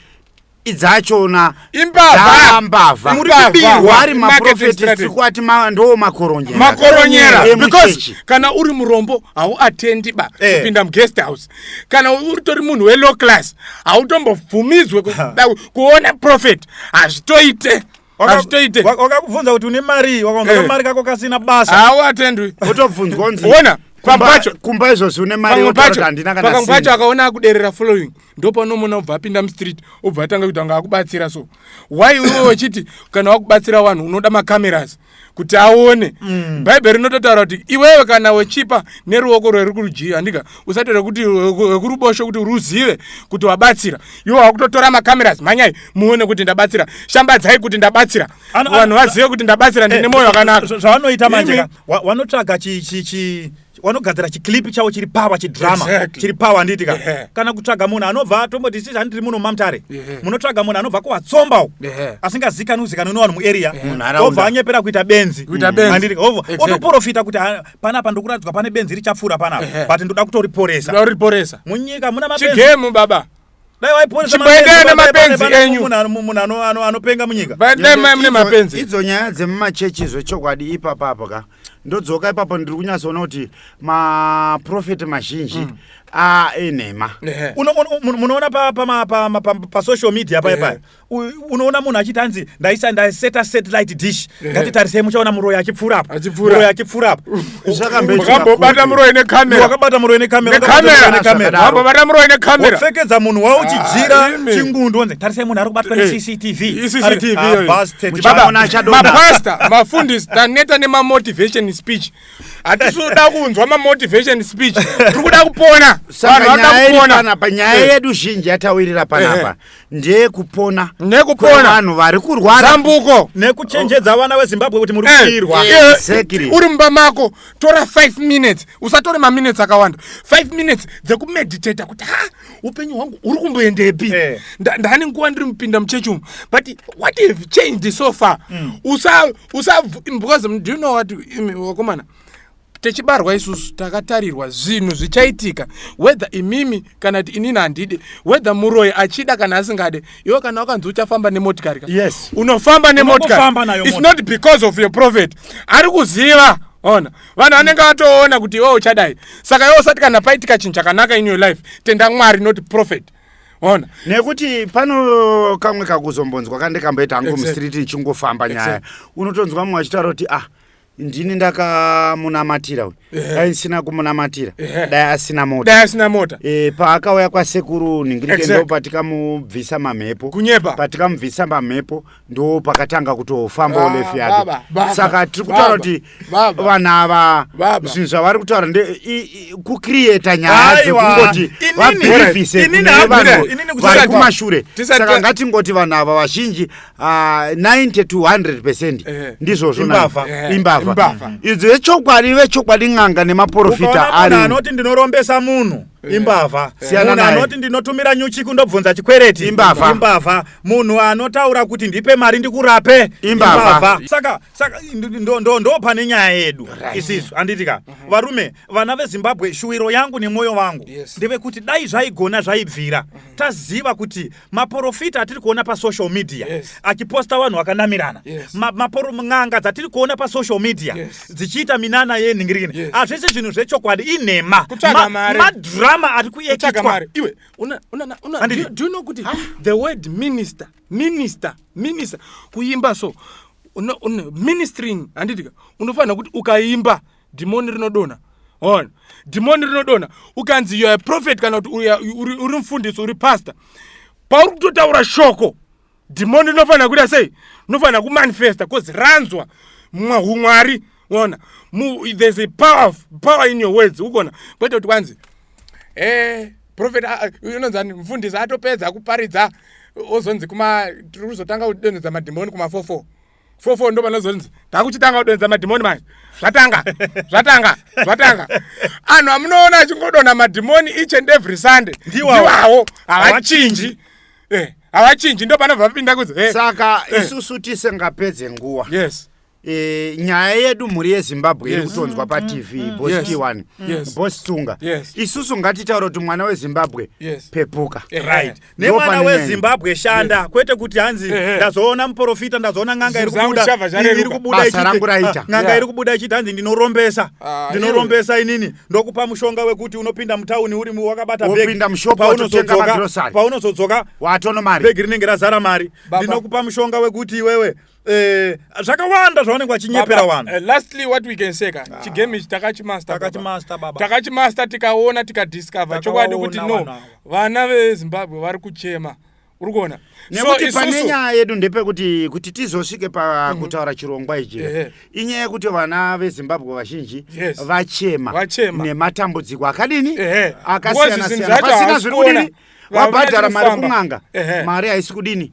S1: idzachona imbavha
S2: mbavha muri kubirwa
S1: ari maprofeti tiri kuati ndo makoronyera makoronyera
S2: because kana uri murombo hauatendi ba eh. kupinda eh. muguest house kana utori munhu welow class hautombobvumidzwe kuona profet hazvitoite hazvitoite
S3: wakakubvunza kuti une mari wakaunza eh. kamari kako kasina basa hawo atendwi
S2: otobvunzwa unzi
S1: ona pambacho
S2: kumba
S1: izvozvi une mari yotaura handina kana pamwe pacho
S2: akaona akuderera following ndopanomona obva apinda mustreet obva atanga kuti anga akubatsira so why iwe wechiti kana wakubatsira vanhu unoda macameras kuti aone mm. bhaibheri rinototaura kuti iwewe kana wechipa neruoko rweri kurudyi handika usatore kuti wekurubosho kuti ruzive kuti wabatsira iwo wakutotora macameras mhanyai muone kuti ndabatsira shambadzai kuti ndabatsira vanhu vazive kuti ndabatsira ndine eh, mwoyo wakanaka zvavanoita manje
S3: wanotsvaga chi wanogadzira chiclip chavo chiri pawa chidrama exactly. chiri pawa handiti ka yeah. kana kutsvaga munhu anobva tomboti sisi handiri muno mamutare yeah. munotsvaga munhu anobva kuwatsombawo yeah. asingazikani uzikanwi nevanhu muarea yeah. obva anyepera kuita benzi handiti mm. obva exactly. otoprofita kuti ah, panapa ndokuratidzwa pane benzi richapfuura panapa yeah. but ndoda kutoriporesa munyika muna mabenzi chigemu baba
S2: dai waiponesa
S3: chimboendera nemapenzi
S2: enyu munhu
S3: anopenga munyika dai mune mapenzi
S2: idzo nyaya dzemumachechi
S1: zvechokwadi ipapa apo ka ndodzoka ipapo ndiri kunyatsoona kuti maprofeti mazhinji mm. ainhema
S3: munoona pasocial media paipai unoona munhu achiti hanzi ndaisa ndaseta satellite dish ngatitarisei muchaona muroyi achipfuura apa muroyi achipfuura apa wakambobata
S2: muroyi necamera wakabata muroyi necamera wakabata muroyi necamera wapfekedza munhu wao
S3: uchijira ah, chingundu wonzi tarisei munhu ari kubatwa eh, necctv
S2: mapasta ah, mafundisi taneta nemamotivation speech hatisuda kunzwa mamotivation speech tiri kuda kupona
S1: vanhu vada kupona panyaya yedu zhinji yatawirira panapa eh, eh. ndeyekupona nekupona vanhu vari kurwara zambuko nekuchenjedza
S2: vana
S3: vezimbabwe kuti muri kuirwa eh, eh, exactly. uri mumba
S2: mako tora 5 minutes usatore maminutes akawanda 5 minutes dzekumeditata kuti ha upenyu hwangu uri kumboendepi hey. Eh. ndani nguva ndiri mupinda muchechi umu but what have changed so far mm. usa usa because do you know what vakomana tichibarwa isusu takatarirwa zvinhu zvichaitika whether imimi kana kuti inini handide whether muroyi achida kana asingade iwe kana wakanzi uchafamba nemotikari ka yes unofamba nemotikari its not because of your prophet ari kuziva ona vanhu vanenge vatoona kuti iwe uchadai saka iwe usati kana paitika chinhu chakanaka in your life tenda mwari not prophet ona nekuti pano
S1: kamwe kakuzombonzwa kandikamboita hangu exactly. mustreet ichingofamba nyaya exactly. unotonzwa mumwe achitaura kuti ah ndini ndakamunamatira uyu eh. dai ndisina kumunamatira eh. dai asina mota dai asina mota e, paakauya kwasekuru ningirike exactly. ndo patikamubvisa mamhepo kunyepa patikamubvisa mamhepo ndo pakatanga kutofamba ulefu yake saka tiri kutaura kuti vanhu ava zvinhu zvavari kutaura nde kucreata nyaya dzekungoti vabhirivise kune vanhu vari kumashure saka ngatingoti vanhu ava vazhinji Uh, ah, 90 to 100 percent eh. ndizvozvo imbavha eh. imbavha idzo vechokwadi vechokwadi n'anga nemaporofita ari anoti ndinorombesa
S3: munhu eh. imbavha munhu anoti ndinotumira nyuchi kundobvunza chikwereti imbavha imbavha munhu anotaura kuti ndipe mari ndikurape imbavha saka saka ndo pane nyaya yedu isisu anditika mhm. varume vana vezimbabwe shuwiro yangu nemwoyo wangu ndevekuti dai zvaigona zvaibvira mhm. taziva kuti maporofita atiri kuona pasocial media yes. achiposta vanhu vakanamirana yes. n'anga dzatiri kuona pasocial media yes. dzichiita minana yenhingirini yes. azvese zvinhu zvechokwadi inhema madhurama ma, ari kuekitwa iwe una,
S2: una, una, una, do, do you know kuti ah. the word minister minister minister kuimba so una, una, ministering handitika unofanira kuti ukaimba dhimoni rinodonha hona dhimoni rinodonha ukanzi youare prophet kana kuti uri mfundisi uri pastor pauri kutotaura shoko dhimoni rinofanira kuita sei rinofanira kumanifesta bcause ranzwa humwari ona there's a power, of, power in your words ukona kwete kuti kwanzi e eh, profet unonzani mfundisi atopedza kuparidza ozonzi kuma tiri kuzotanga kudonhedza madhimoni kumafofo fofo ndo vanozonzi takuchitanga kudonza madhimoni manje zvatanga zvatanga zvatanga anhu amunoona achingodonha madhimoni each and every sunday ndiwawo havachinji eh, havachinji ndo panobva vapinda kuzi eh. saka eh. isusu
S1: tisingapedze nguwa yes E, nyaya yedu mhuri yezimbabwe iri yes. kutonzwa mm, patv mm, mm, bos yes. t1 yes. bos tsunga yes. isusu ngatitaura kuti mwana wezimbabwe yes. pepuka eh, right. nemwana
S3: wezimbabwe shanda kwete kuti hanzi ndazoona muprofita ndazoona n'anga iri kubuda iri kubuda ah, n'anga iri kubuda ichiti hanzi ndinorombesa ah, ndinorombesa inini ndokupa mushonga wekuti unopinda mutauni uri wakabata bhegipaunozodzokabhegi
S1: rinenge razara mari
S3: ndinokupa mushonga wekuti iwewe Eh, zvakawanda zvavanenge vachinyepera vanhu eh, lastly what we can say
S2: ka ah. chigame ichi takachimastertakachimasta tikaona tikadiscover chokwadi kuti no vana vezimbabwe vari kuchema uri kuona nekuti pane
S1: nyaya yedu ndepekuti kuti tizosvike pakutaura mhm. chirongwa ichi inyaya yekuti vana vezimbabwe vazhinji vachema nematambudziko akadini akasiyana siyana pasina zviri kudini wabhadhara mari kun'anga mari haisi kudini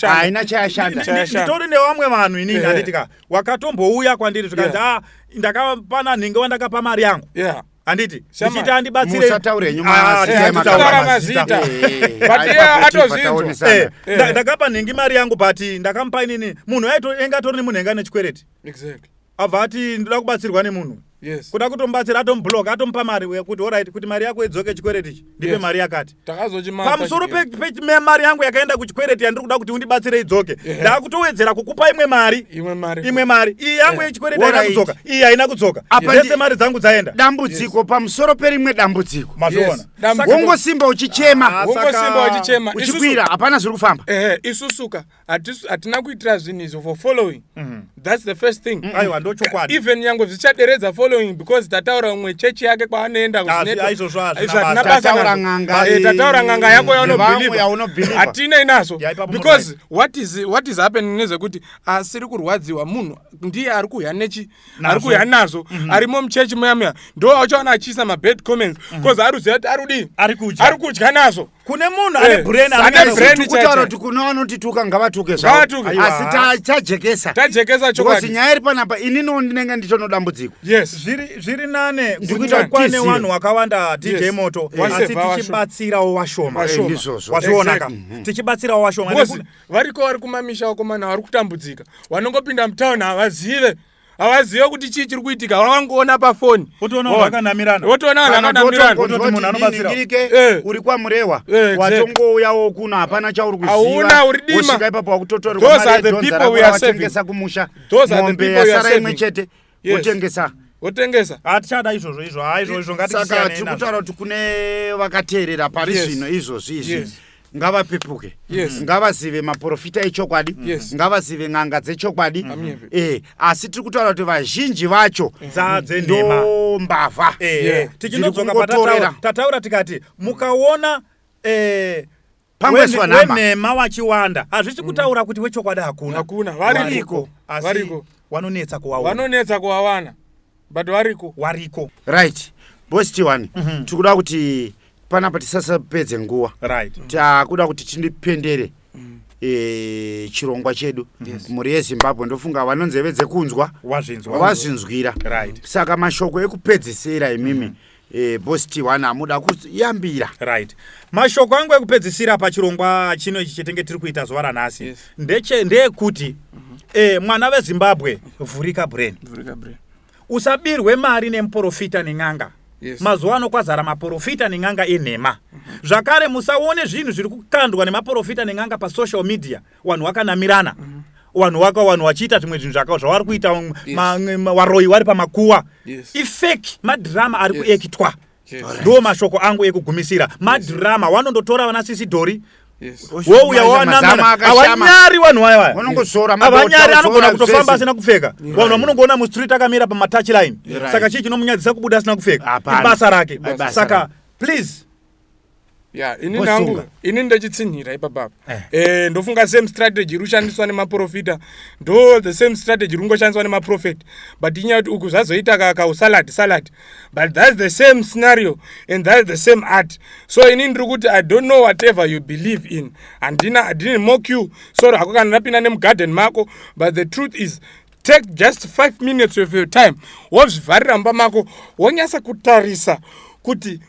S1: haina chayashandaitori nevamwe
S3: vanhu inini handitika wakatombouya kwandiri zvikanzi a ah, ndakapana nhinge wandakapa mari yangu handiti ndichiti andibatsireatozvinzwa ndakapa nhingi mari yangu but ndakamupa inini munhu aitoenga atori nemunhu enga nechikwereti abva ati ndoda kubatsirwa nemunhu yes. kuda kutomubatsira atomublok atomupa mari yekuti orit kuti mari yako idzoke chikwereti ichi ndipe yes. mari yakati pamusoro pemari yangu yakaenda kuchikwereti yandiri kuda kuti undibatsire idzoke yeah. ndakutowedzera kukupa imwe mari imwe mari iyi yangu yechikwereti yeah. haina kudzoka iyi haina kudzoka dzese mari dzangu dzaenda dambudziko yes. pamusoro
S1: perimwe dambudziko mazviona yes. wongosimba uchichema ah, uchikwira hapana zviri kufamba ehe isusuka
S2: hatina kuitira zvinhu izvo for following mm. thats the first thing mm. aiwa ndochokwadi even
S3: nyangwe zvichaderedza
S2: following because tataura umwe chechi yake kwaanoenda
S1: kuzvinabasaataura
S2: eh, nganga yako yaunobelieve hatinei nazvo because what is, what is happening nezvekuti asiri kurwadziwa munhu ndiye ari kuhya nechi ari kuuya nazvo mhm. arimo muchechi muya muya ndo auchaona achiisa mabad comments mhm. bcause ari kuziva kuti arudii ari
S3: kudya nazvo
S2: kune munhu ane eh,
S3: brainanekutaura kuti
S1: kuno vanotituka ngavatuke zvaoasi tajekesa tajekesa chokuti nyaya
S2: iri panapa
S1: ininiwo ndinenge ndichono dambudziko yes zviri
S3: nane kwane wanhu wakawanda dj moto asi tichibatsirawo washoma eh, ndizvozvo wazvionaka mhm. tichibatsirawo washoma variko vari
S2: kumamisha vakomana vari kutambudzika vanongopinda mutown havazive havazive kuti chii chiri kuitika vavangoona pafoni otoona vanhu vakanamirana
S3: otoona vanhu
S1: vakanamiranauri eh. kwamurewa eh, watongouyawo kuno hapana chauri kuziva uri dima ipapo wakutotorwa mari yedhonzara kumusha mombe yasara imwe chete wotengesa
S2: wotengesa hatichada ah, izvozvo
S3: izvo ha ah, izvo izvo ngatisaka tiri kutaura
S1: kuti kune vakateerera pari zvino izvozvi izvi ngavapepuke yes. ngavazive maprofita echokwadi yes. ngavazive n'anga dzechokwadi e, asi tiri kutaura kuti vazhinji vacho ndo mbavha eh, eh.
S3: tichinodzokatataura tikati mukaona e, pangoiswa nhama wenhema wachiwanda hazvisi mm. kutaura kuti wechokwadi hakuna hakuna variko
S2: asi
S3: wanonetsa kuwawana vanonetsa
S2: kuwawana but variko wariko
S3: right
S1: boss t1 mm -hmm. tikuda kuti panapa tisasapedze nguva right mm. takuda kuti tindipendere mm. e, chirongwa chedu yes. mhuri yezimbabwe ndofunga vanonzeve dzekunzwa wazvinzwira right. saka mashoko ekupedzisira imimi mm -hmm Eh, boss T1 amuda kuyambira. Right. Mashoko
S3: angu ekupedzisira pachirongwa chino ichi chetenge tiri kuita zuva ranhasi. Yes. Ndeche ndeyekuti mm -hmm. eh, mwana veZimbabwe vhurika brain. Vhurika brain. Usabirwe mari nemuporofita nen'anga. Yes. Mazuva ano kwazara maporofita nen'anga enhema. Mm -hmm. Zvakare musaone zvinhu zviri kukandwa nemaporofita nen'anga pasocial media. wanhu wakanamirana mm -hmm vanhu waka vanhu vachiita zvimwe zvinhu zvaka zvavari kuita varoyi vari pamakuwa ifake madhirama ari kuekitwa ndo mashoko angu ekugumisira madhirama wanondotora vana sisidhori wouya wawanamavanyari vanhu vaya vaya avanyari anogona kutofamba asina kupfeka vanhu vamunongoona mustreet akamira pamatouch line saka chii chinomunyadzisa kubuda asina kupfeka ibasa rake saka please ya ini nangu
S2: ini ndechitsinhira ipapa eh. eh, ndofunga same strategy iri kushandiswa nemaprofita ndo the same strategy iri kungoshandiswa nemaprofet but inyaya kuti uku zvazoita kaka usalad salad but thats the same scenario and thats the same art so ini ndiri kuti i don't know whatever you believe in handina i didn't mock you sor hako kana ndapinda nemugarden mako but the truth is take just five minutes of your time wozvivharira mba mako wonyasa kutarisa kuti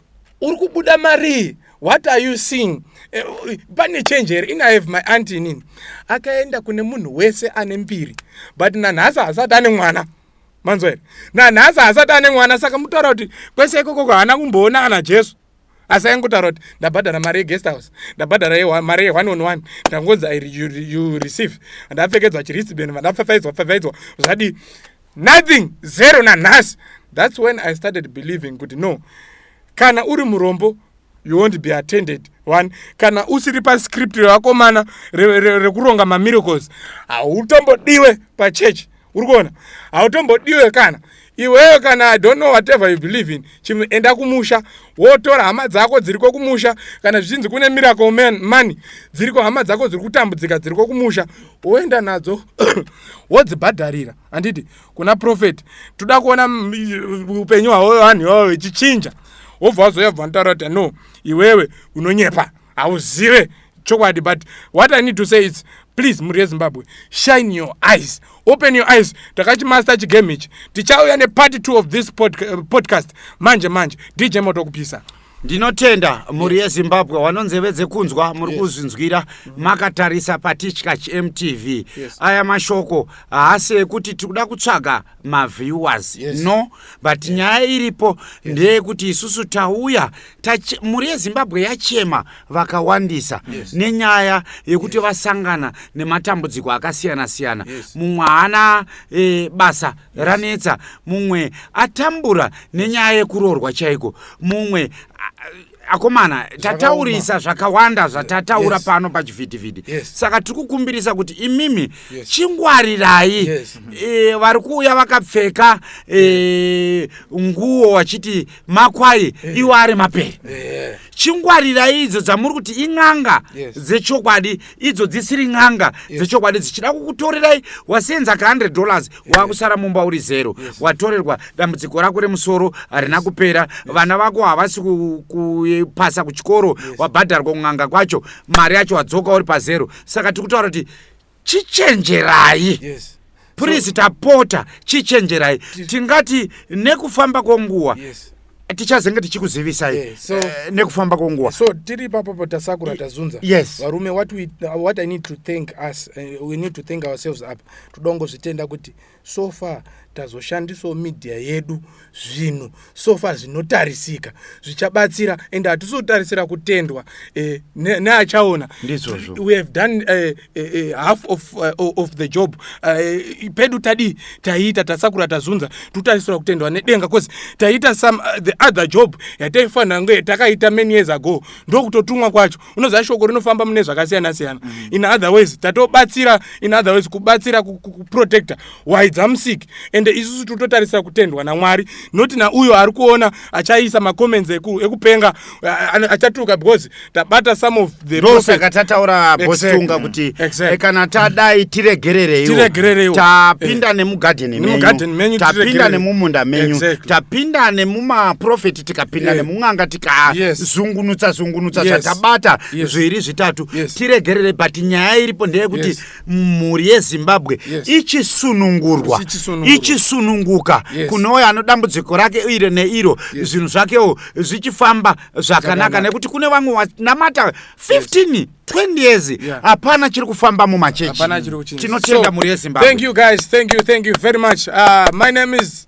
S2: uri kubuda marii what are you seeing eh, pane change here in i have my aunt inini akaenda kune munhu wese ane mbiri but nanhasi hasati ane mwana manzwa here nanhasi hasati ane mwana saka mutaura kuti kwese ikokoko haana kumboona kana jesu asi aingotaura kuti ndabhadhara mari yeguest house ndabhadhara mari yeone on one ndangonzi you receive ndapfekedzwa chiristben vandapfafaidzwa pfafaidzwa zvadii nothing zero nanhasi thats when i started believing kuti no kana uri murombo you won't be attended one kana usiri pascript revakomana rekuronga mamiracles hautombodiwe pachurch uri kuona hautombodiwe kana iwewe kana i don't know whatever you believe in chimwe enda kumusha wotora hama dzako dziriko kumusha kana zvichinzi kune miracle man money dziriko hama dzako dziri kutambudzika dziriko kumusha woenda nadzo wodzibhadharira handiti kuna profet toda kuona upenyu hwavo vanhu ivavo vechichinja wobva wazoya bva ntaura kuti no iwewe unonyepa hauzive chokwadi but what i need to say is please mhuri yezimbabwe shine your eyes open your eyes takachimaster chigame ichi tichauya nepart two of this pod, uh, podcast manje manje dj moto kupisa ndinotenda
S1: mhuri yezimbabwe wanonzeve dzekunzwa muri kuzvinzwira makatarisa patitya chmtv yes. aya mashoko haasi ekuti tiri kuda kutsvaga maviewers yes. no but yeah. nyaya iripo yes. ndeyekuti isusu tauya Tache, mhuri yezimbabwe yachema vakawandisa yes. nenyaya yekuti yes. vasangana nematambudziko akasiyana siyana yes. mumwe haana e, basa yes. ranetsa mumwe atambura nenyaya yekuroorwa chaiko mumwe akomana tataurisa zvakawanda zvatataura yes. pano pachivhitivhiti yes. saka tiri kukumbirisa kuti imimi yes. chingwarirai yes. e, vari kuuya vakapfeka e, nguo vachiti makwai eh. iwo ari mapere eh. chingwarirai idzo dzamuri kuti in'anga dzechokwadi idzo dzisiri n'anga dzechokwadi dzichida kukutorerai wasenza ka 100 dollars wakusara mumba uri zero watorerwa dambudziko rako remusoro harina kupera vana vako havasi kupasa kuchikoro wabhadharwa kun'anga kwacho mari yacho wadzoka uri pazero saka tiri kutaura kuti chichenjerai yes purizi so, tapota chichenjerai tingati nekufamba kwenguva yes tichazenge tichikuzivisai yeah, so, uh, nekufamba kwenguva so tiri papapo
S2: tasakura tazunza yes varume what, we, what i need to thank us uh, we need to thank ourselves up toda kungozvitenda kuti so far tazoshandisawo media yedu zvinhu so far zvinotarisika zvichabatsira and hatisotarisira kutendwa eh, neachaona we have done eh, eh, eh, half of, uh, of the job uh, pedu tadii taiita tasakura tazunza totarisira kutendwa nedenga bcause taiita some uh, the other job yataifanira nge takaita many years ago ndokutotumwa kwacho unoziva shoko rinofamba mune zvakasiyana siyana mm. in other ways tatobatsira in other ways kubatsira kuprotecta why dzamusik ende isusu tototarisira kutendwa namwari not nauyo ari kuona achaisa macomments ekupenga achatuka because tabata some of the ndosaka tataura
S1: bosunga kuti eh, kana tadai tiregerereiwo tapinda eh. nemugadheni menyu tapinda nemumunda menyu tapinda nemumaprofeti tikapinda yes. nemun'anga tikazungunutsa yes. zungunutsa zvatabata yes. yes. zviri zvitatu yes. tiregerere but nyaya iripo ndeyekuti yes. mhuri yezimbabwe yes. ichisunungurwa ichisununguka yes. kunouya anodambudziko rake iro neiro yes. zvinhu zvakewo zvichifamba zvakanaka nekuti kune vamwe vanamata 15 yes. 20 years hapana yeah. chiri kufamba mumachechi tinotenda so, mhuri yezimbabwe thank you guys thank you
S2: thank you very much uh, my name is